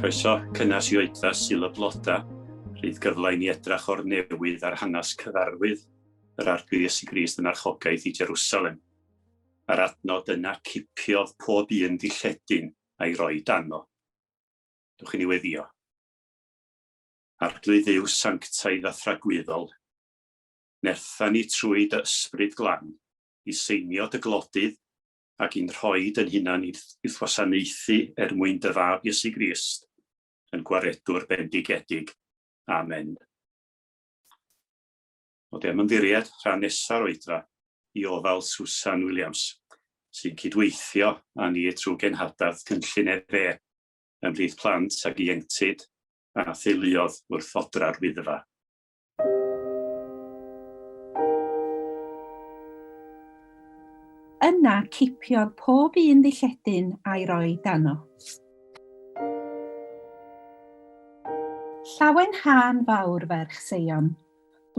Croeso cynnes i oedfa Sul y Bloda, rhydd gyfle i ni edrach o'r newydd ar hanes cyfarwydd yr Arglwydd Iesu Grist yn archogaeth i Jerusalem, a'r adnod yna cipiodd pob un ddilledyn a'i roi dano. Dwch i niweddio. Arglwydd Dduw sanctaidd a thragwyddol, nertha ni trwy dy Ysbryd Glan i seinio dy glodydd ac i'n rhoi dy'n hunan i wrth wasanaethu er mwyn dy Fab Iesu Grist, yn Gwaredwr bendigedig. Amen. O dy ymddiried, rhan nesa'r oedfa, i ofal Susan Williams, sy'n cydweithio â ni trwy genhadaeth Cynllun EFE ymhlith plant ac ieuenctid a theuluodd wrth odra'r Wyddfa. Yna cipiodd pob un ddilledyn a'i roi dano. Llawen hân fawr ferch Seion,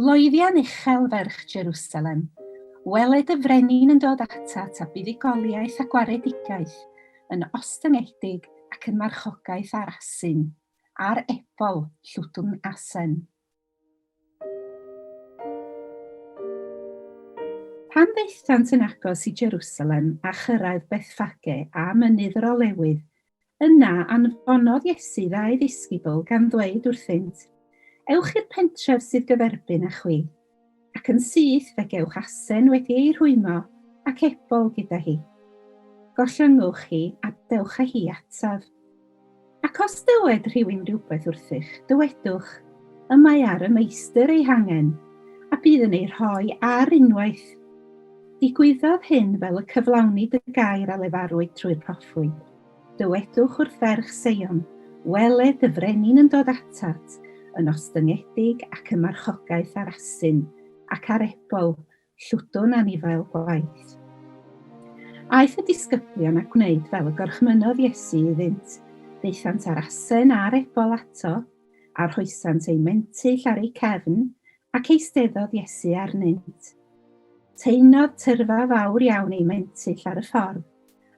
Loeddian uchel ferch Jerusalem, weled y frenin yn dod atat a buddugoliaeth a gwaredigaeth, yn ostyngedig ac yn marchogaeth ar asyn, ar ebol, llwdwn asen. Pan ddaethant yn agos i Jerusalem a chyrraedd Bethfage a Mynydd yr Olewydd, Yna anfonodd Iesu ddau ddisgybl, gan ddweud wrthynt, Ewch i'r pentref sydd gyferbyn â chwi, ac yn syth fe gewch asen wedi ei rhwymo ac ebol gyda hi. Gollyngwch hi, a dewch â hi ataf. Ac os dywed rhywun rhywbeth wrthych, dywedwch, Y mae ar y Meistr ei hangen, a bydd yn ei rhoi ar unwaith. Digwyddodd hyn fel y cyflawnid y gair a lefarwyd trwy'r proffwyd. Dywedwch wrth ferch Seion, Wele, dy frenin yn dod atat, yn ostyngedig ac yn marchogaeth ar asyn, ac ar ebol, llwdwn anifail gwaith. Aeth y disgyblion a gwneud fel y gorchmynnodd Iesu iddynt, daethant â'r asen a'r ebol ato, a rhoesant eu mentyll ar eu cefn, Ac eisteddodd Iesu arnynt. Teimlodd tyrfa fawr iawn ei mentyll ar y ffordd,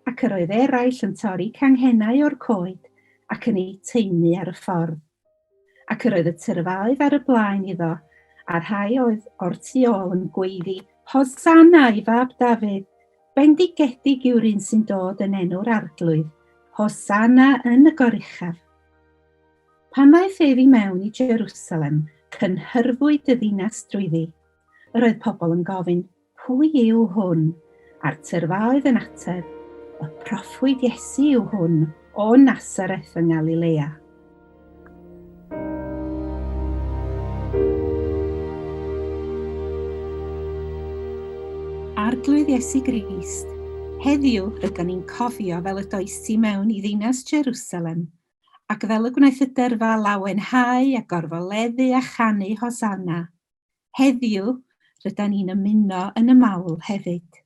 ac yr oedd eraill yn torri canghennau o'r coed ac yn eu taenu ar y ffordd. Ac yr oedd y tyrfa oedd ar y blaen iddo, a rhai oedd o'r tu ôl yn gweiddi, Hosanna i fab Dafydd! Bendigedig yw'r un sy'n dod yn enw'r arglwydd! Hosanna yn y goruchaf! Pan ddaeth ef i mewn i Jerusalem, cynhyrfwyd y ddinas drwyddi. Yr oedd pobl yn gofyn, Pwy yw hwn? A'r tyrfa oedd yn ateb, Y proffwyd Iesu yw hwn, o Nasareth yng Ngalilea. Arglwydd Iesu Grist, heddiw rydyn ni'n cofio fel y does ti mewn i ddinas Jerusalem ac fel y gwnaeth y dyrfa lawenhau a gorfoleddu a chanu Hosanna, heddiw rydan ni'n ymuno yn y mawl hefyd.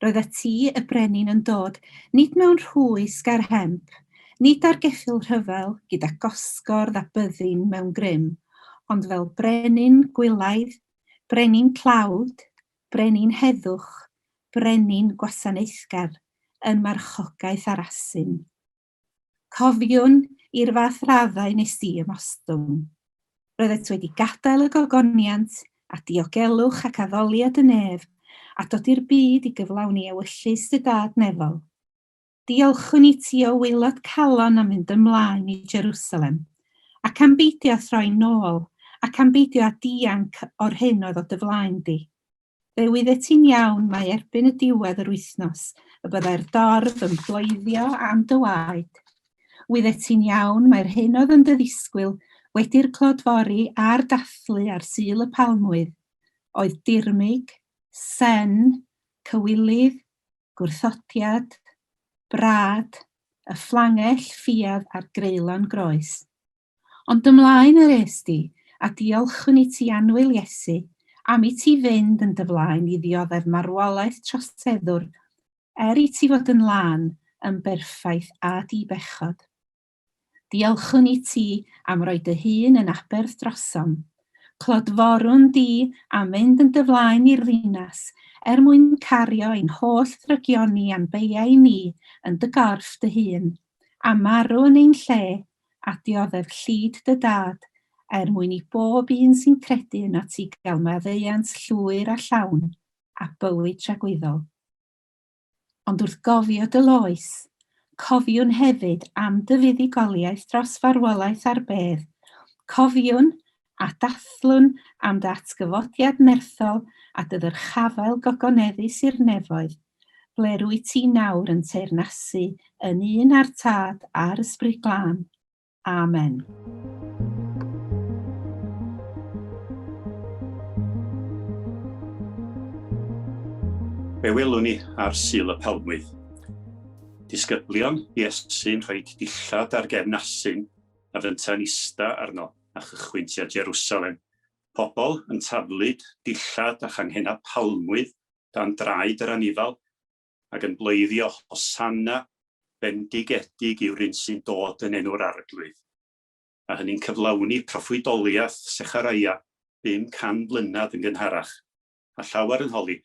Roedd y ti y brenin yn dod, nid mewn rhwys ger hemp, nid ar geffyl rhyfel gyda gosgordd a byddin mewn grym, ond fel brenin gwylaidd, brenin tlawd, brenin heddwch, brenin gwasanaethgar, yn marchogaeth ar asyn. Cofiwn i'r fath raddau nes di ym ostwng. Roeddet wedi gadael y gogoniant a diogelwch ac addoliad y nef a dod i'r byd i gyflawni ewyllys dy dad nefol. Diolchwn i ti o waelod calon am fynd ymlaen i Jerusalem, ac am beidio â throi nôl, ac am beidio â dianc o'r hyn oedd o dy flaen di. Fe wyddet ti'n iawn mai erbyn y diwedd yr wythnos y byddai'r dorf yn bloeddio am dy waed. Wyddet ti'n iawn mai'r hyn oedd yn dy ddisgwyl wedi'r clodfori a'r dathlu ar Sul y Palmwydd oedd dirmyg, sen, cywilydd, gwrthodiad, brâd, y fflangell ffiedd a'r greulon groes. Ond ymlaen yr est di, a diolchwn i ti annwyl Iesu, am i ti fynd yn dy flaen i ddioddef marwolaeth troseddwr, er i ti fod yn lân, yn berffaith a di-bechod. Diolchwn i ti am roi dy hun yn aberth drosom. Clodforwn di am fynd yn dy flaen i'r ddinas, er mwyn cario ein holl ddrygioni a'n beiau ni yn dy gorff dy hun, a marw yn ein lle, a dioddef llid dy dad, er mwyn i bob un sy'n credu yno ti gael maddeuant llwyr a llawn, a bywyd tragwyddol. Ond wrth gofio dy loes, cofiwn hefyd am dy fuddugoliaeth dros farwolaeth ar bedd, cofiwn a dathlwn am ddatgyfodiad nerthol a dy ddyrchafael gogoneddu Sir Nefoedd, ble rwyt ti nawr yn teyrnasu yn un â'r Tad a'r Ysbryd Glân. Amen. Be welwn ni ar Sul y Palmwydd? Disgyblion Iesu'n rhoi dillad ar gefn asyn a fynta'n ista arno. a chychwyn tua Jerusalem, pobl yn taflud, dillad a changhennau palmwydd dan draed yr anifail, ac yn bleiddio Hosanna, bendigedig yw'r un sy'n dod yn enw'r Arglwydd. A hynny'n cyflawni proffwydoliaeth Secharaia 500 mlynedd yn gynharach, a llawer yn holi,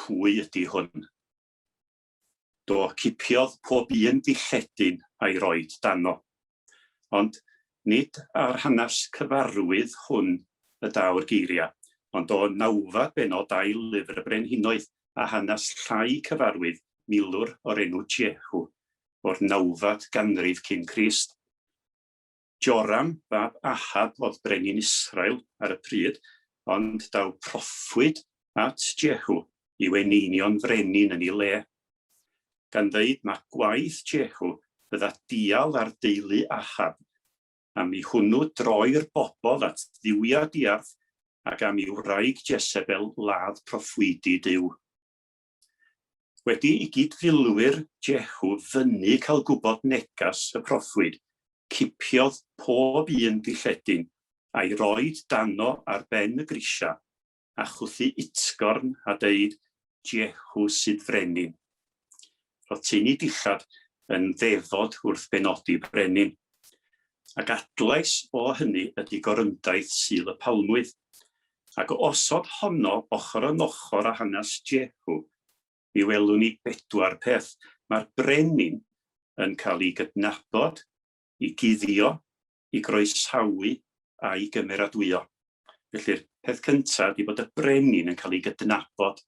Pwy ydy hwn? Do, cipiodd pob un dilledyn a'i roid dano. Ond nid ar hanes cyfarwydd hwn y daw'r geiriau, ond o nawfed bennod ail lyfr y Brenhinoedd, a hanes llai cyfarwydd milwr o'r enw Jehu, o'r nawfed ganrif cyn Crist. Joram fab Ahab oedd brenin Israel ar y pryd, ond daw proffwyd at Jehu i'w eneinio'n frenin yn ei le, gan ddeud na gwaith Jehu fydda dial ar deulu Ahab, am i hwnnw droi'r bobl at dduwiau diarth, ac am i wraig Jesebel ladd proffwydi Duw. Wedi i gyd-filwyr Jehu fynnu cael gwybod negas y proffwyd, cipiodd pob un dilledyn a'i roed dano ar ben y grisiau, a chwythu utgorn a deud, Jehu sydd frenin. Roedd teini dillad yn ddefod wrth benodi brenin. Ac adlais o hynny ydy gorymdaith Sul y Palmwydd. Ac o osod honno ochr yn ochr â hanes Jehu, mi welwn ni bedwar peth. Mae'r brenin yn cael ei gydnabod, ei guddio, ei groesawu a'i gymeradwyo. Felly'r peth cyntaf ydy bod y brenin yn cael ei gydnabod.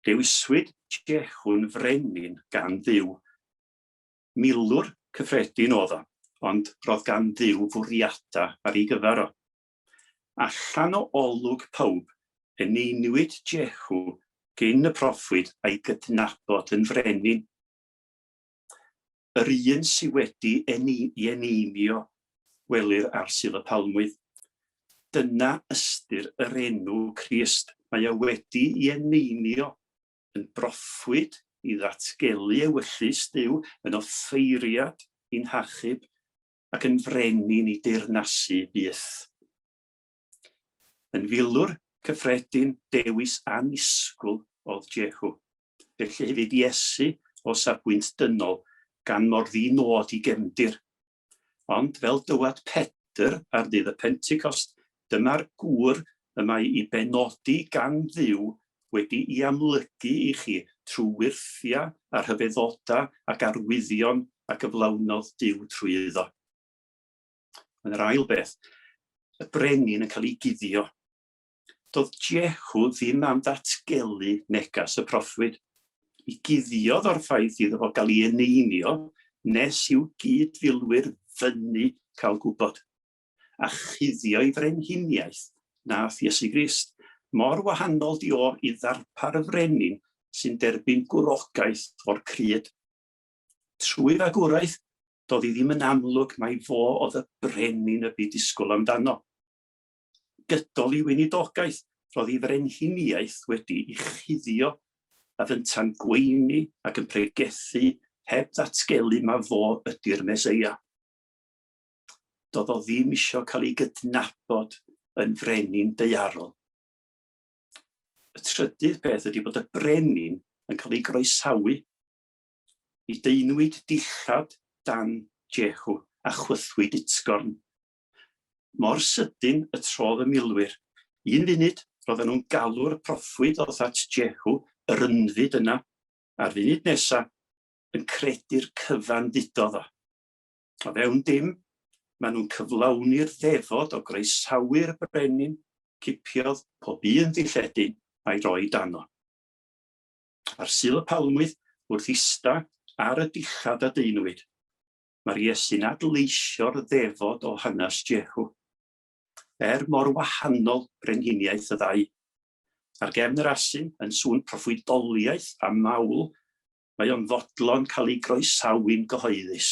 Dewiswyd Jehu'n frenin gan Dduw. Milwr cyffredin oedd o, ond roedd gan Dduw fwriadau ar ei gyfer o. Allan o olwg pawb, eneinwyd Jehu gyn y proffwyd a'i gydnabod yn frenin. Yr un sydd wedi ei eneinio, welir ar Sul y Palmwydd. Dyna ystyr yr enw Crist, mae e wedi ei eneinio yn broffwyd i ddatgelu ewyllys Duw yn offeiriad i'n hachub ac yn fryn i ni deyrnasu byth. Yn filwr cyffredin, dewis annisgwl oedd Jehu. Felly hefyd Iesu o safbwynt dynol, gan mor ddi-nod i gefndir. Ond fel dywed Pedr ar ddydd y Pentecost, Dyma'r gŵr y mae i benodi gan Dduw wedi'i amlygu i chi trwy wyrthiau a rhyfeddodau ac arwyddion a gyflawnodd Duw trwy iddo. Ond yr ail beth, y brenin yn cael ei guddio. Doedd Jehu ddim am ddatgelu negas y proffwyd. Mi guddiodd o'r ffaith iddo fo gael ei eneinio nes i'w gyd-filwyr fyny cael gwybod. a chuddio'i frenhiniaeth, nath Iesu Grist. Mor wahanol di o i ddarpar y frenin sy'n derbyn gwrogaeth o'r cryd. Trwy fagwraeth, doedd hi ddim yn amlwg mai fo oedd y brenin y bu disgwyl amdano. Gydol i weinidogaeth, roedd ei frenhiniaeth wedi i chuddio a fynta'n gweini ac yn pregethu heb ddatgelu ma fo ydy'r Meseia. doedd o ddim isio cael ei gydnabod yn frenin deiarol. Y trydydd peth ydy bod y brenin yn cael ei groesawu i deinwyd dillad dan Jehu a chwythwyd utgorn. Mor sydyn y trodd y milwyr. Un funud, roedden nhw'n galw'r proffwyd oedd at Jehu, yr ynfyd yna, a'r funud nesaf, yn credu'r cyfan ddudodd o. O fewn dim, maen nhw'n cyflawni'r ddefod o groesawu'r brenin, cipiodd pob un ddilledyn a'i roi dano. Ar Sul y Palmwydd, wrth ista ar y dillad a deunwyd, mae'r Iesu'n adleisio'r ddefod o hanes Jehu. Er mor wahanol brenhiniaeth y ddau, ar gefn yr asyn yn sŵn proffwydoliaeth a mawl mae o'n fodlon cael ei groesawu'n gyhoeddus.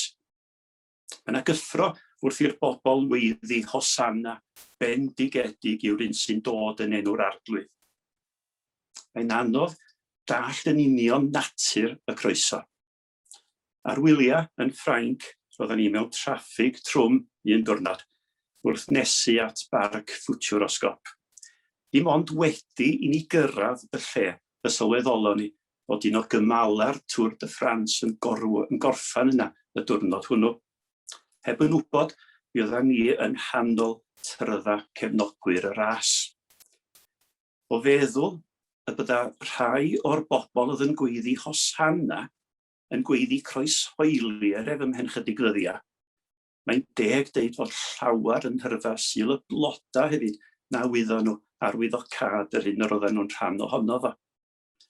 Mae yna gyffro wrth i'r bobl weiddi Hosanna, bendigedig yw'r un sy'n dod yn enw'r arglwydd. Mae'n anodd dallt yn union natur y croeso. Ar wyliau yn Ffrainc, roedden ni mewn traffig trwm un diwrnod wrth nesu at barc ffwtiwr o sgop. Dim ond wedi i ni gyrraedd y lle y sylweddolon ni fod un o gymala'r Tour de France yn gorffen yna y diwrnod hwnnw. Heb yn wybod, mi oeddan ni yng nghanol trydda cefnogwyr y ras. O feddwl y bydda rhai o'r bobl oedd yn gweiddi Hosanna yn gweiddi croeshoeli er ef ymhen chydig ddyddia'. Mae'n deg deud fod llawer yn nhyrfa Sul y Bloda' hefyd na wyddon nhw arwyddocâd yr hyn yr oeddan nhw'n rhan ohono fo.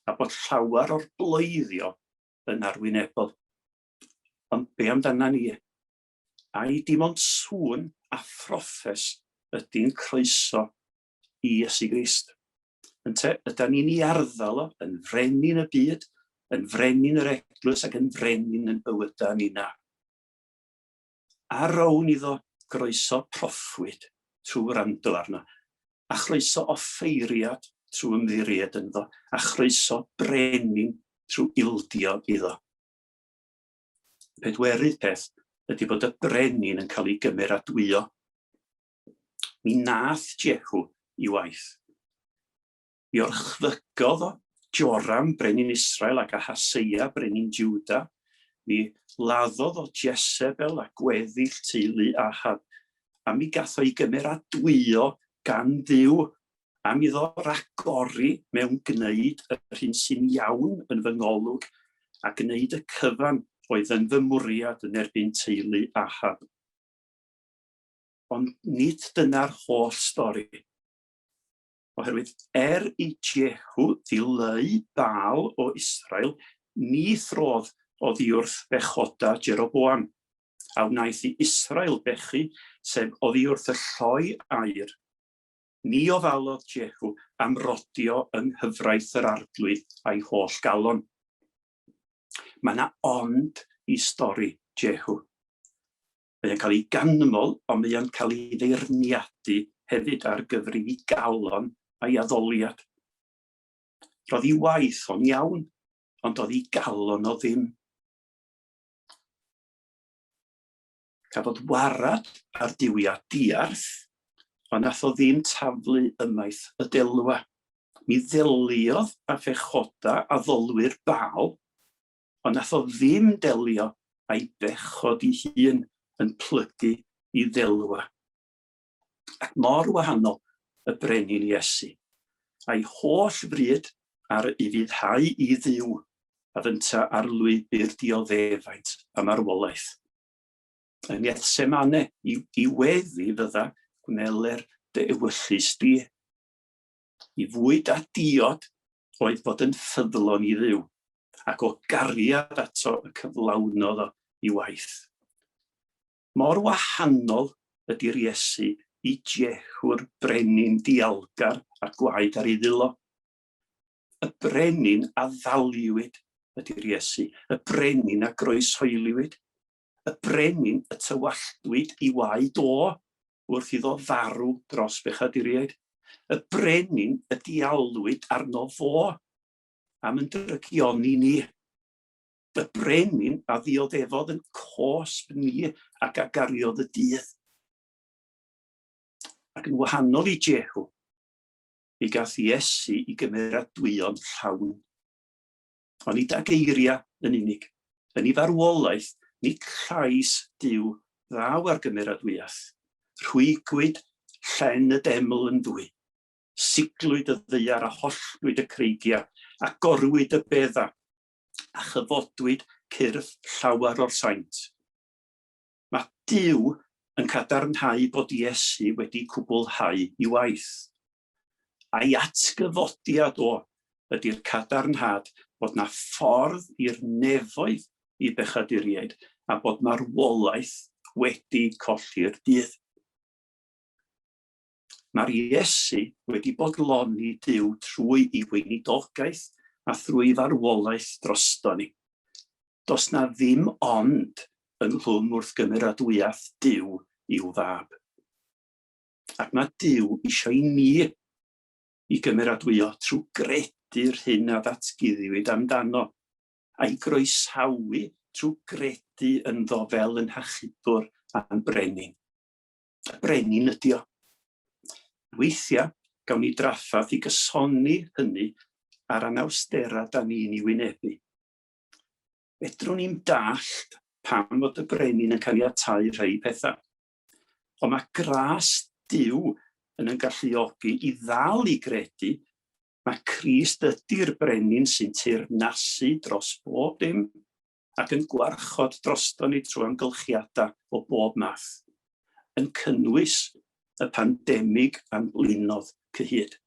a bod llawer o'r bloeddio yn arwynebol. Ond be amdana ni? Ai dim ond sŵn a throffes ydy'n croeso i Iesu Grist? Ynte, yda ni'n ei arddel o yn frenin y byd, yn frenin yr eglwys ac yn frenin yn bywydau ni na. a rown iddo groeso proffwyd trwy wrando arno, a chroeso offeiriad trwy ymddiried ynddo, a chroeso brenin trwy ildio iddo. Pedwerydd peth ydy bod y brenin yn cael ei gymeradwyo. Mi nath Jehu i waith. Mi orchfygodd o Joram, brenin Israel, ac Ahaseia, brenin Juda. Mi laddodd o Jezebel a gweddill teulu Ahab, a mi gath o'i gymeradwyo gan ddiw, a mi ddo ragori mewn gwneud yr hyn sy'n iawn yn fy ngolwg, a gwneud y cyfan oedd yn fy mwriad yn erbyn teulu Ahab. Ond nid dyna'r holl stori. Oherwydd er i Jehu ddileu Baal o Israel, ni throdd oddiwrth bechoda Jeroboam, a wnaeth i Israel bechu, sef oddiwrth y lloi aur. Ni ofalodd Jehu am rodio yng nghyfraith yr arglwydd a'i holl galon. Mae yna ond i stori Jehu. Mae o'n cael ei ganmol, ond mae o'n cael ei feirniadu hefyd ar gyfer ei ddigalon a'i addoliad. Roedd ei waith o'n iawn, ond oedd ei galon o ddim. Cafodd warad ar diwia diarth, ond nath o ddim taflu ymaith y delwa. Mi ddeliodd a phechoda addolwyr Baal ond nath o ddim delio a'i bechod i hun yn plygu i ddelwa. Ac mor wahanol y brenin Iesu, a'i holl fryd ar i fuddhau i Dduw, a fynta ar lwybr dioddefaint a marwolaeth. Yn Gethsemane, i, i weddi fydda gwnele'r dy ewyllys di. i fwyd a diod oedd fod yn ffyddlon i Dduw, ac o gariad ato y cyflawnodd o i waith. Mor wahanol ydy'r Iesu i Jehu'r brenin dialgar a gwaed ar ei ddilo. Y brenin a ddaliwyd ydy'r Iesu, y brenin a groeshoeliwyd, y brenin y tywalltwyd i waed o, wrth iddo farw dros bechaduriaid, y brenin y diawlwyd arno fo, am yn drygion i ni, y brenin a ddioddefodd yn cosb ni ac a gariodd y dydd. Ac yn wahanol i Jehu, mi gath Iesu i gymeradwyo'n llawn. Ond nid â geiriau yn unig, yn ei farwolaeth, nid llais Duw ddaw ar gymeradwyaeth. Rhwygwyd llen y deml yn ddwy, siglwyd y ddaear a holltwyd y creigiau, a gorwyd y bedda, a chyfodwyd cyrff llawer o'r saint. Mae Duw yn cadarnhau bod Iesu wedi cwblhau i waith. a'i atgyfodiad o, ydi'r cadarnhad bod 'na ffordd i'r nefoedd i bechaduriaid a bod marwolaeth wedi colli'r dydd. Mae'r Iesu wedi bodloni Duw trwy i weinidogaeth a thrwy farwolaeth drosto ni. Does na ddim ond ynghlwm wrth gymeradwyaeth Duw i'w fab. Ac mae Duw eisiau i ni i gymeradwyo trwy gredu'r hyn a ddatguddiwyd amdano, a'i groesawu trwy gredu ynddo fel yn hachubwr a'n brenin. Y brenin ydi o. Weithiau, gawn ni drafferth i gysoni hynny a'r anawsterau da ni'n ei wynebu. Fedrwn ni'm dallt pam fod y brenin yn caniatáu rhai pethau. Ond mae gras Duw yn yn galluogi i ddal i gredu mae Crist ydy'r brenin sy'n teyrnasu dros bob dim ac yn gwarchod drosto ni trwy amgylchiadau o bob math, yn cynnwys y pandemig a'n blinodd cyhyd.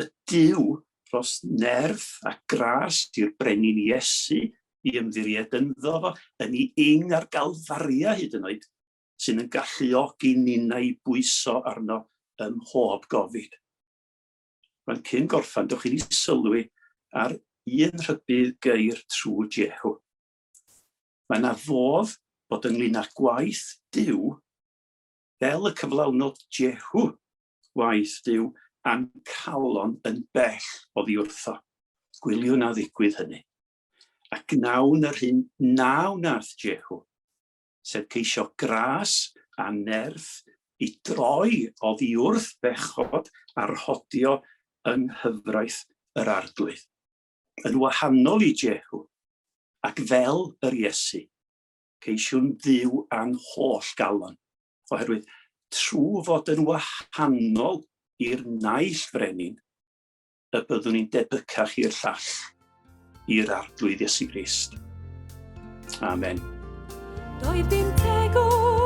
y Duw dros nerth a gras i'r brenin Iesu i ymddiried ynddo fo, yn ei ing ar Galfaria hyd yn oed, sy'n yn galluogi ninnau i bwyso arno ym mhob gofid. Mae'n cyn gorffan, dewch i ni sylwi ar un rhybudd geir trwy Jehu. Mae na fodd bod ynglyn â gwaith Duw fel y cyflawnod Jehu, waeth dyw ancalon yn bell oddi wrtho. Gwyliwn a ddigwydd hynny. A gnawn yr hyn na wnaeth Jehu, sef ceisio gras a nerth i droi oddi wrth bechod a rhodio yng nghyfraith yr Arglwydd. Yn wahanol i Jehu, ac fel yr Iesu, Ceisiwn Dduw a'n holl galon, oherwydd trwy fod yn wahanol i'r naill frenin, y byddwn ni'n debycach i'r llall, i'r arglwydd Iesu Grist. Amen. Doedd dim tegwch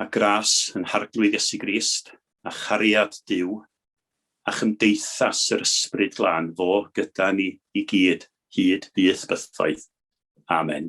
Mae gras yn harglwydd Iesu Grist, a chariad Duw, a chymdeithas yr Ysbryd Glân fo gyda ni i gyd, hyd byth bythoedd. Amen.